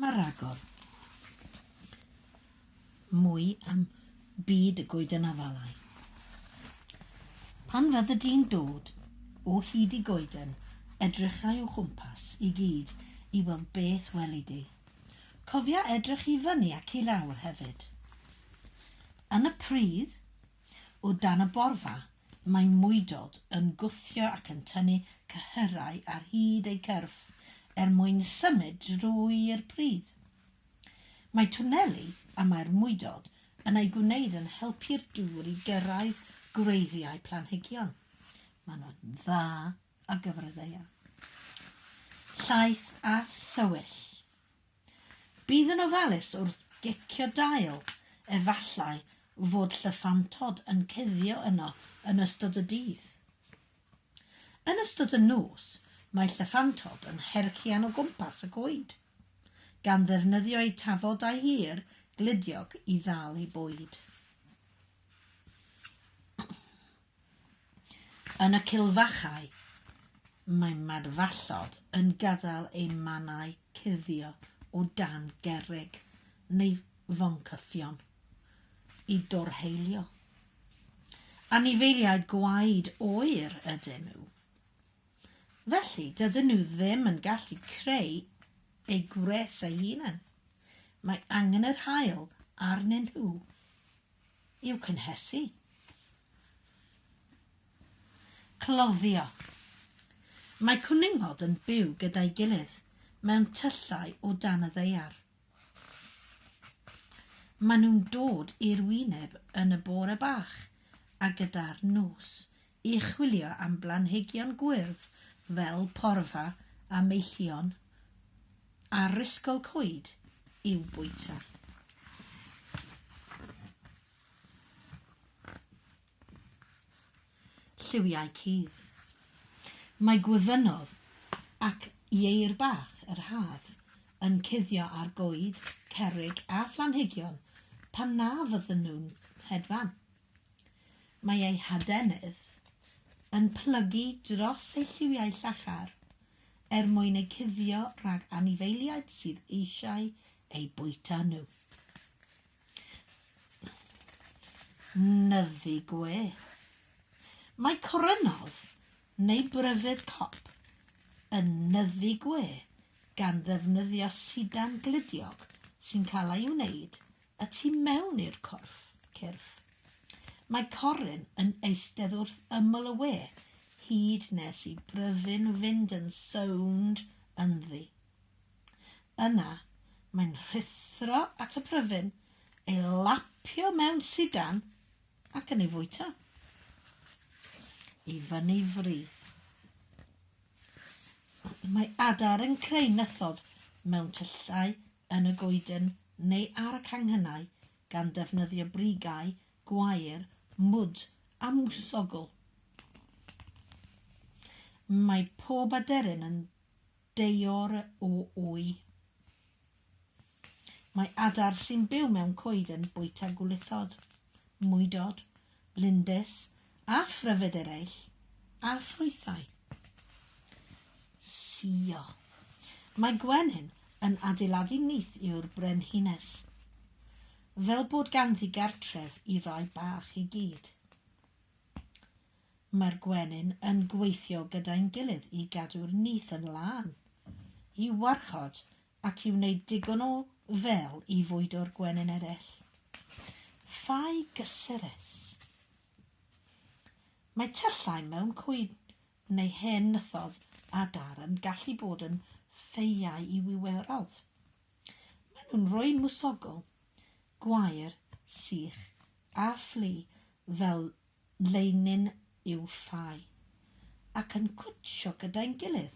Mae rhagor mwy am byd y goeden afalau. Pan fyddi di'n dod o hyd i goeden, edrycha i'w chwmpas i gyd i weld beth weli di. Cofia edrych i fyny ac i lawr hefyd. Yn y pridd, O dan y borfa, mae mwydod yn gwthio ac yn tynnu cyhyrau ar hyd eu cyrff er mwyn symud drwy'r pridd. Mae twneli y mae'r mwydod yn eu gwneud yn helpu'r dŵr i gyrraedd gwreiddiau planhigion. Maen nhw'n dda ar gyfer y ddaear. Llaeth a thywyll. Bydd yn ofalus wrth gecio dail, efallai fod llyffantod yn cuddio yno yn ystod y dydd. Yn ystod y nos, mae llyffantod yn herchian o gwmpas y coed, gan ddefnyddio eu tafodau hir gludiog i ddal eu bwyd. Yn y cilfachau, mae madfallod yn gadael eu mannau cuddio o dan gerrig neu foncyffion i dorheilio. Anifeiliaid gwaed oer ydyn nhw, felly dydyn nhw ddim yn gallu creu eu gwres eu hunain, mae angen yr haul arnyn nhw. i'w cynhesu. Cloddio. Mae cwningod yn byw gyda'i gilydd mewn tyllau o dan y ddaear. Maen nhw'n dod i'r wyneb yn y bore bach a gyda'r nos i chwilio am blanhigion gwyrdd fel porfa a meillion a rhisgl coed i'w bwyta. Lliwiau cudd Mae gwyfynod ac ieir bach yr haf yn cuddio ar goed, cerrig a phlanhigion pan na fyddan nhw'n hedfan. Mae ei hadenydd yn plygu dros ei lliwiau llachar er mwyn eu cuddio rhag anifeiliaid sydd eisiau eu bwyta nhw. Nyfu gwe. Mae corynodd, neu bryfydd cop, yn nyfu gwe gan ddefnyddio sidan gludiog sy'n cael ei wneud Y tu mewn i'r corff, cyrff. Mae Corin yn eistedd wrth ymyl y we, hyd nes i Bryfyn fynd yn sownd ynddi. Yna, mae'n rhuthro at y Pryfyn, ei lapio mewn sidan, ac yn ei fwyta. I fyny fri. Mae Adar yn creu nythod mewn tyllau yn y goeden neu ar y canghennau gan ddefnyddio brigau, gwair, mwd a mwsogl. Mae pob aderyn yn deor o wy. Mae adar sy'n byw mewn coeden bwyta gwlithod, mwydod, lindys a phryfed eraill, a ffrwythau. Sio. Mae gwenyn yn adeiladu nyth yw'r brenhines, fel bod ganddi gartref i rai bach i gyd. Mae'r gwenyn yn gweithio gyda'n gilydd i gadw'r nyth yn lân, i warchod ac i wneud digon o fel i fwydo'r gwenyn eraill. Fai gyseres. Mae tyllau mewn cwyn neu hen nythodd a dar yn gallu bod yn ffeiau i wiwerald. Maen nhw'n rhoi mwsogl, gwair, sych a fflu fel leinin i'w ffau ac yn cwtsio gyda'n gilydd.